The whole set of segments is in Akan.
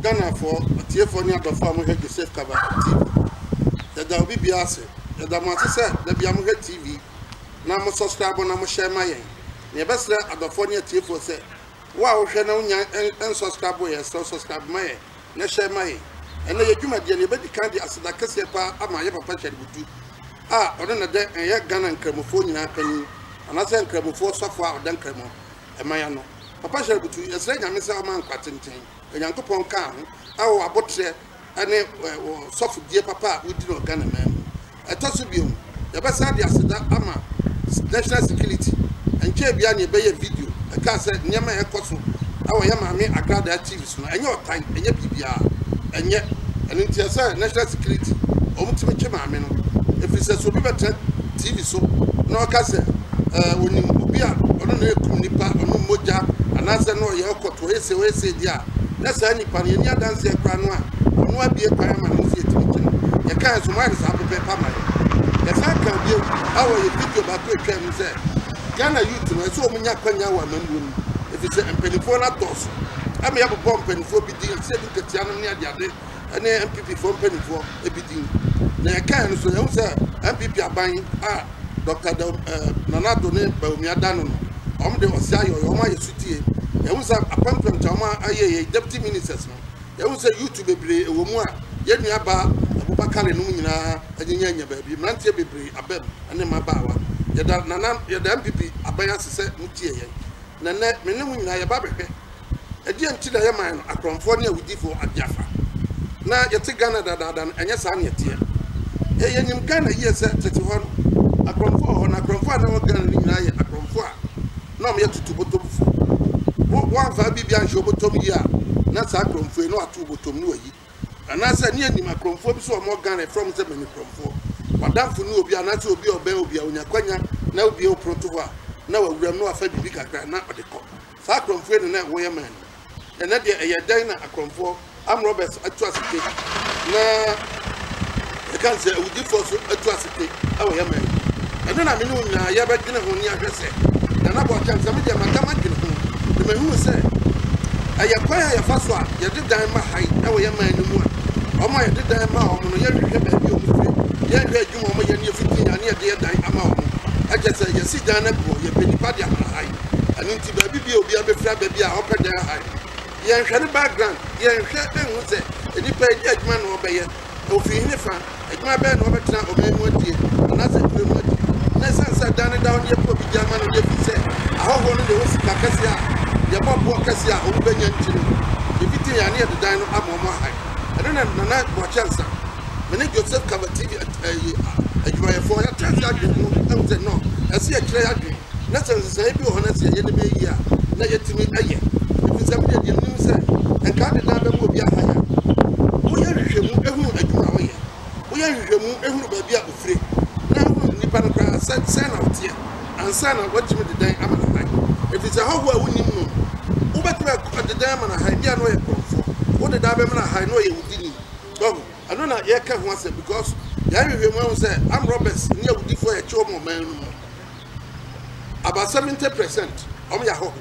ghanafoɔ atiefoɔ ne adɔfoɔ a mohwɛ joseph kaba tv yɛda obi biara ase yɛda mo ase sɛ da bia mohwɛ tv na mo subscribe na mohyɛ ma yɛn na yɛbɛsrɛ adɔfoɔ ne atiefoɔ sɛ wo a wohwɛ na wonya ɛn- ɛnsubscribe yɛ sɛ subscribe ma yɛn na ɛhyɛ ma yɛn. Ɛnnɛ, yɛn dwumadie no, yɛbɛdi kan de aseda kɛseɛ pa ara ama yɛn papa Richard Butu a ɔno na dɛ ɛyɛ Ghana Nkramofoɔ nyinaa panin anaasɛ Nkramofoɔ sɔfoɔ a ɔda Nkramo man ano. Papa Richard Butu, yɛsrɛ Nyame sɛ ɔma nkwa tenten, Onyankopɔn nka wo ho wɔ w'aboterɛ ne wo sɔfodie papa a wodi no wɔ Ghana man mu. Ɛtɔ so bio, yɛbɛsan de aseda ama National Security. Ɛnkyɛe biara na yɛbɛyɛɛ video, ɛkaa sɛ nneɛma a ɛrekɔ so wɔ yɛn maame Agradaa TV so no, ɛnyɛ ɔtan, ɛnyɛ biribiara, ɛnyɛ. Ɛno nti ɛsɛ sɛ National Security, wɔtumi twe maame no, ɛfiri sɛ sɛ obi bɛtena TV so na ɔka sɛ ɛɛ ɔnim obi a ɔno na ɛrekum nnipa, ɔnom mogya, anaasɛ na ɔyɛ ɔkɔtoɔ, ɔyɛ sei, ɔyɛ sei deɛ a, na saa nipa no, yɛnni adanseɛ koraa no a, Ɔno abue kwan ama ne nso yɛtumi gyina. Yɛkaa nso, moayɛ no saa pɛpɛɛpɛ ama yɛn. Yɛsan kaa bio, awɔ yɛ video baako a ɛtwaam no sɛ, Ghana youth no, ɛsɛ wɔnya akwanya wɔ amammuo no mu, ɛfiri sɛ mpanimfoɔ no adɔɔso. Ɛma yɛbobɔɔ mpanimfoɔ bi din, te sɛ Luke Atianom ne adeade ne NPP foɔ mpanimfoɔ bi din. Na yɛkaeɛ no nso, yɛahu sɛ NPP aban a Dɔkta Daw eh, Nana Addo ne Bawumia da no no, wɔn de ɔse ayɛ ɔyɛ, wɔn ayɛ sotie. Yɛahu sɛ apɛmpɛm nti a wɔn ayɛ yɛ deputy ministers no, Yɛahu sɛ YouTube bebree ɛwɔ mu a yɛn nua baa Abubakar Kale nom nyinaa anyinya anya baabi. Mmeranteɛ bebree aba mu ɛne mmabaawa. Yɛda Nana, yɛda NPP aban ase sɛ mo tie yɛn. Na nnɛ me ne mo nyinaa yɛba abɛhwɛ ɛdeɛn nti na yɛman no akorɔmfoɔ ne awudifoɔ agye afa. Na yɛte Ghana dadaada no ɛnyɛ saa na ɛteɛ. Ɛɛ yɛnim Ghana yie sɛ tete hɔ no akorɔmfoɔ wɔ hɔ na akorɔmfoɔ a na ɛwɔ Ghana no nyinaa yɛ akorɔmfoɔ a na wɔyɛ tutu botom fo. Wo wɔanfa biribi anhyɛ wo botom yie a, na saa korɔmfoɔ yi, na wato wo botom, na wayi. Anaasɛ, ne yɛnim akorɔmfoɔ bi so a wɔwɔ Ghana, yɛfrɛ wɔn sɛ Mani korɔmfoɔ. W'adamfo ne obi, anaasɛ obi a ɔbɛn obi a, onya akwanya na wobue wo pono to hɔ a, na wawura mu na wafa biribi kakra na ɔde kɔ. Saa akorɔmfoɔ yi na na ɛwɔ yɛn man mu. Ɛnnɛ deɛ ɛyɛ dɛn na akorɔmfoɔ, armed robbers, atu ase pe na yɛka no sɛ awudifoɔ nso atu ase pe wɔ yɛn man mu? Ɛno na me ne wo nyinaa yɛbɛdwene ho na yɛahwɛ sɛ deɛ na bɔɔkyɛm sɛ me deɛ mada madwene ho na mahunu sɛ ɛyɛ kwan a yɛfa so a yɛde dan ma ha yi wɔ yɛn man no mu a wɔn a yɛde dan ma wɔn no yɛnhwehwɛ baabi a wɔn firi yɛnhwɛ adwuma wɔn yɛ ne yɛfiti a ne yɛde yɛ dan ama wɔn ɛkyɛ sɛ yɛsi dan no agu hɔ yɛpɛ nipa de ahana ha yi ɛno Baabi bi a obiara bɛfiri aba bi a ɔpɛ Dell Hyde. Yɛnhwɛ ne background, yɛnhwɛ nhu sɛ nnipa yi, dɛn adwuma na wɔbɛyɛ, ofiri he fa, adwuma bɛn na wɔbɛtena ɔman mu adie, anaasɛ nkuro mu adi. Na esiane sɛ dan no da hɔ no, yɛpɛ obi de ama no deɛ firi sɛ ahɔhoɔ no deɛ wɔ sika kɛseɛ a yɛbɔ boɔ kɛseɛ a wɔn bɛnya nti no, yɛfiti he a ne yɛde dan no ama wɔn aha he. Ɛno na Nana Boakye Ansah, me ne Joseph Kaba TV adwumayɛfoɔ, yɛtena ase adwene ho ahu sɛ, no, ɛse yɛkyerɛ y'adwene. na sɛ nsesaeɛ bi wɔ hɔ na sɛ yɛyɛ nneɛma yie a, na yɛatumi ayɛ. Ɛfiri sɛ medeɛ deɛ menim sɛ nka ade daa bɛma obi ahan a, woyɛ nhwehwɛmu hunu adwuma a ɔyɛ, woyɛ nhwehwɛmu hunu baabi a ɔfire, na wohunu nnipa no koraa sɛ sɛn na ɔteɛ ansa na woatumi de dan ama no ahan. Ɛfiri sɛ hɔhoɔ a wonnim no no, wobɛtumi de dan ama no ahan, ebia na ɔyɛ korɔmfoɔ, wode dan bɛma no ahan na ɔyɛ awudini. Wahu? Ɛno na yɛreka ho asɛm because yɛayɛ nhwehwɛmu ahu sɛ armed robbers ne awudifoɔ a yɛkye wɔn wɔ man no mu About seventy percent wɔn yɛ ahɔho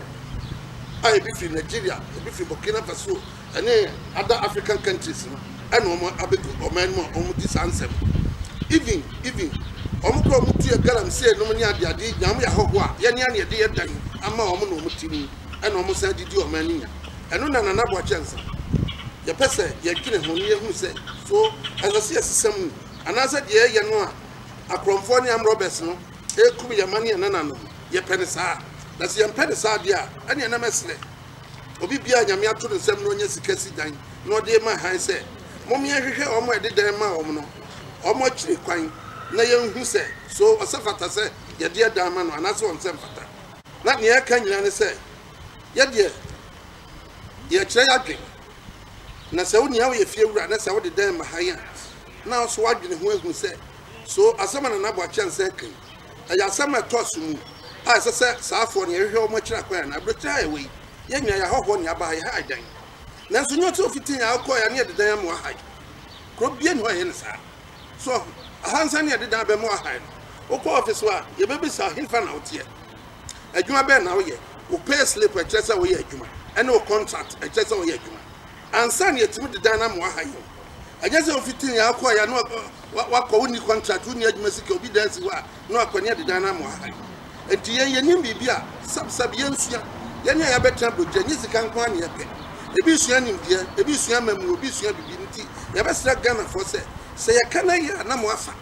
a ebi firi Nigeria, ebi firi Burkina Faso ɛne other African countries no ɛna wɔn abɛgu ɔman mu a wɔn di saa nsɛm. Even even wɔn kora wɔn tuya galamsey nom ne adeade nya wɔn yɛ ahɔho a yɛn yɛn yɛde yɛ dan ama wɔn na wɔn ti mu ɛna wɔn san de di ɔman no nya. Ɛno na Nana Boakye nsa. Yɛpɛ sɛ yɛdwene ho na yɛhunu sɛ so ɛsɛ sɛ yɛsesa mu anaasɛ deɛ yɛyɛ no a akorɔmfoɔ ne amrɔbɛs no rekum yɛn mma ne yɛn nananom. Yɛpɛ no saa? Na sɛ yɛmpɛ no saa deɛ a, ɛnneɛ na mɛsrɛ obi biara a Nyame ato ne nsam na ɔnya sika si dan na ɔde rema hann sɛ, Mommyɛ nhwehwɛ wɔn a yɛde dan maa wɔn no, wɔn akyiri kwan, na yɛnhu sɛ, so ɔsɛ fata sɛ yɛde yɛ dan ma no anaasɛ ɔnsɛ mfata. Na nea ɛka nyinaa ne sɛ, yɛdeɛ, yɛkyerɛ yɛadwene. Na sɛ wo nea woyɛ fiewura na sɛ wode dan ma hann a, na nso wadwene ho ahu sɛ, So asɛm a Nana Boakye Ansah reka yi, ɛyɛ asɛm a ɛtɔ asomu a ɛsɛ sɛ saa afoɔ no yɛhwehwɛ wɔn akyiri akwan anaa? Aburokyire ha a yɛwɔ yi, yɛn nyinaa yɛ ahɔhoɔ na yɛaba ha, yɛha ha dan. Nanso nyɛ sɛ ofiti yɛn a wokɔeɛ a na yɛde dan amoa ha yi. Kuro biara nni hɔ a ɛyɛ no saa. So woahu? Ahansɛn na yɛde dan abɛmoa ha yi no. Wokɔ ɔfese hɔ a, yɛbɛbisa wo, Hefa na woteɛ? Adwuma bɛn na woyɛ? Wo payslip a ɛkyerɛ sɛ woyɛ adwuma, ɛne wo kɔntrak a ɛkyerɛ sɛ woyɛ adwuma. Ansa na yɛatumi de dan no ama wɔaha yɛn. Ɛnyɛ sɛ wofi tee yɛn akɔe a na wɔakɔ, wonni kɔntrat, wonni adwuma sika, obi dan si hɔ a na wɔakɔ ne yɛde dan no ama wɔaha yɛn. Enti yɛn yɛnim biribi a sɛbsɛb yɛnsua. Yɛn a yɛabɛtena Bogya, ɛnyɛ sika nko ara na yɛpɛ. Ebi sua nimdeɛ, ebi sua mmamu, obi sua biribi. Enti yɛbɛsrɛ Ghanafoɔ sɛ, sɛ yɛka na ɛyɛ a na moafa.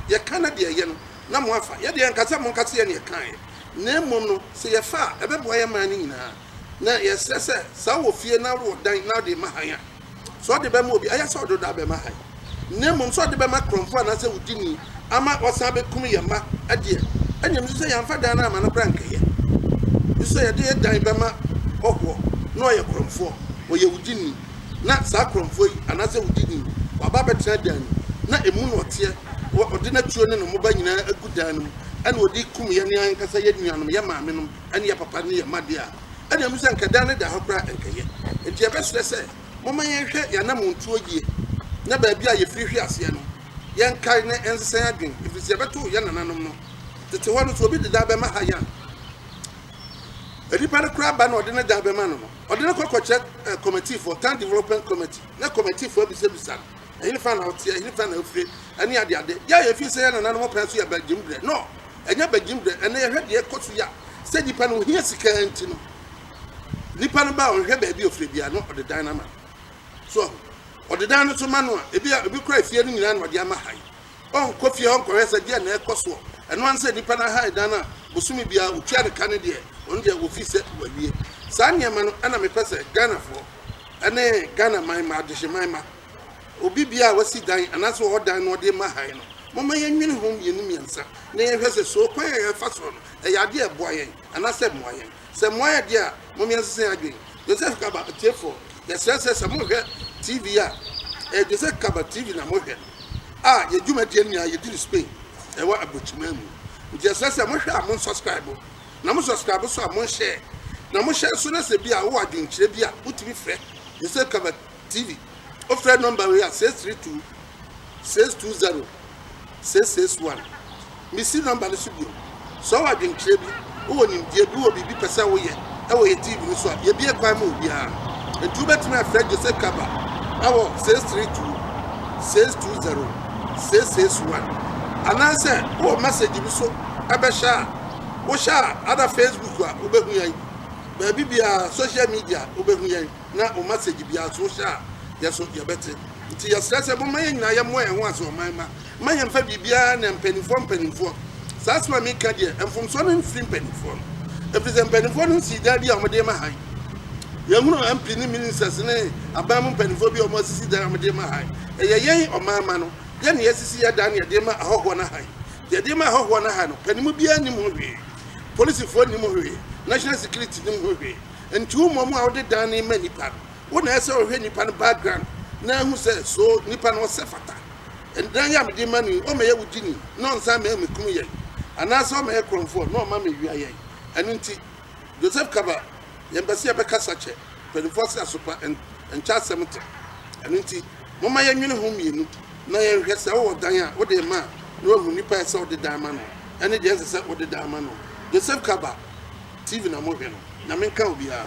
Yɛka na deɛ ɛyɛ no na moafa. Yɛdeɛ yɛnka sɛ monka sɛ yɛn na yɛkaeɛ. Na mmom no, sɛ yɛfa a, ɛbɛboa yɛn man no nyinaa. na yɛsrɛ sɛ saa wɔ fie na wɔ dan na wode ma hann a, sɛ ɔde bɛma obi a, ɛyɛ sɛ ɔde ɔdɔ abɛma hann, na mmom sɛ ɔde bɛma korɔmfo anaasɛ wo dini ama wasan abɛkum yɛn mma deɛ, ɛnneɛ mesu sɛ yɛamfa dan no amma no koraa nkɛyɛ. Mesu sɛ yɛde yɛ dan bɛma hɔhoɔ na ɔyɛ korɔmfoɔ, ɔyɛ wo dini, na saa korɔmfoɔ yi anaasɛ wo dini yi, waba abɛtena dan mu, na emu na ɔteɛ, ɔde n'atuo ne ne mmoba nyinaa agu dan no mu, ɛnna ɔde rekum yɛn ankasa, yɛn nuanom, yɛn maamenom. ɛne yɛ papa ne yɛ mma deɛ a, ɛna ɛmu sɛ anka dan no da hɔ koraa ɛnkɛyɛ. Enti yɛbɛsrɛ sɛ momma yɛnhwɛ yɛn anamontuo yie na baabi a yɛfiri hwe aseɛ no, yɛnkae na yɛnsesan adwene ɛfiri sɛ yɛbɛto yɛn nananom no tete hɔ no, sɛ obi de dan bɛma ha yɛn a, nipa no koraa ba na ɔde ne dan bɛma no no, ɔde no kɔ kɔkyerɛ eh, kɔmɛtifoɔ, town development committee, na kɔmɛtifoɔ abisabisa no, ɛhefa na ɔteɛ, ɛhefa na ɔfire, ɛne adeade. Yɛ a yɛfiri sɛ yɛn nananom pɛn so yɛbɛgyem berɛ, no, Ɛnyɛ badwini berɛ. Ɛnnɛ yɛhwɛ deɛ ɛkɔ so yi a, sɛ nipa no ohia sika ara nti no, nipa no ba a ɔnhwɛ baabi a ɔfiri biara na ɔde dan no ama no. So ahu? Ɔde dan no nso ma no a, ebi a, ebi koraa efie no nyinaa na ɔde ama hann. Ɔnkɔ fie hɔ nkɔhwɛ sɛ deɛn na ɛrekɔ soɔ. Ɛno ara ne sɛ nipa no ahann dan no a, bosome biara ɔtua ne ka no deɛ, ɔno deɛ ɔfeel sɛ wawie. Saa nneɛma no na mepɛ sɛ Ghanafoɔ ne Ghanaman mma, adehyeman mma, obi bia a wasi dan anaasɛ ɔwɔ dan na ɔde rema hann no, momma yɛnnwene ho mmienu mmiɛnsa na yɛnhwɛ sɛ so ɔkwan a yɛrefa so no yɛ ade a ɛboa yɛn anaasɛ ɛmmoa yɛn. Sɛ mmoa yɛn deɛ a, momma yɛnsesa yɛn adwene. Joseph Kaba, Atiefoɔ, yɛsrɛ sɛ sɛ morehwɛ TV a ɛyɛ Joseph Kaba TV na morehwɛ no a, yɛn dwumadie no nyinaa yɛdi no Spain, ɛwɔ Abrokyiman mu. Nti yɛsrɛ sɛ mohwɛ a monsɔskraibo, na mosɔskraibo nso a monhyɛɛ, na mohyɛ nso na sɛ bi a wowɔ adwenkyerɛ bi a wotumi frɛ Joseph Kaba TV. Wofrɛ nɔmba wei a, 632 620 661. Misi nɔmba no so bio. Sɛ ɔwɔ adwenkyerɛ bi, wowɔ nimdeɛ bi, wowɔ biribi pɛ sɛ woyɛ wɔ yɛ TV no so a, yɛbue kwan ma obiara. Enti wobɛtumi afrɛ Jose Kaba wɔ 632 620 661. Anaasɛ wowɔ mɛsegye bi so bɛhyɛ a, wohyɛ a, ada Facebook a, wobɛhu yɛn. Baabi biara, social media, wobɛhu yɛn. na wo masage biara nso wohyɛ a yɛ so yɛbɛte nti yɛsrɛ sɛ momma yɛn nyinaa yɛmmɔ yɛn ho ase ɔman mma mma yɛmfa biribiara na mpanimfoɔ mpanimfoɔ saa asɛm a meka deɛ mfomsoɔ no mfiri mpanimfoɔ no ɛfiri sɛ mpanimfoɔ no nsii dan bi a wɔde ma han yɛhunu mp ne ministers ne aban mu mpanimfoɔ bi a wɔasisi dan a wɔde ma han ɛyɛ yɛn ɔman mma no yɛne yɛsisi yɛ dan na yɛde ma ahɔhoɔ no han yɛde ma ahɔhoɔ no han no panim biara nim ho hwee polisifoɔ nim ho hwee national security nim ho hwee Ntow mmom a wode dan no ma nipa no, wo na ɛsɛ sɛ ɔhwɛ nipa no background na ahu sɛ so nipa no ɔsɛ fata. Ɛdan yi a mede ma no yi ɔmɛyɛ wo gyini na ɔnsan mɛyɛ me kunu yɛn anaasɛ ɔmɛyɛ korɔmfoɔ na ɔma me wia yɛn. Ɛno nti Joseph Kaba yɛn pɛ sɛ yɛbɛkasa kyɛ mpaninfoɔ se asopa nkyɛ asɛm te. Ɛno nti momma yɛn nwene ho mmienu na yɛn hwɛ sɛ wowɔ dan a wode rema a na wahu nipa a ɛsɛ sɛ ɔde dan ma no ɛne deɛ ɛnsɛ sɛ wode dan ma no. Joseph Kaba. Tv na mo hwɛ no nyame nka obiaa.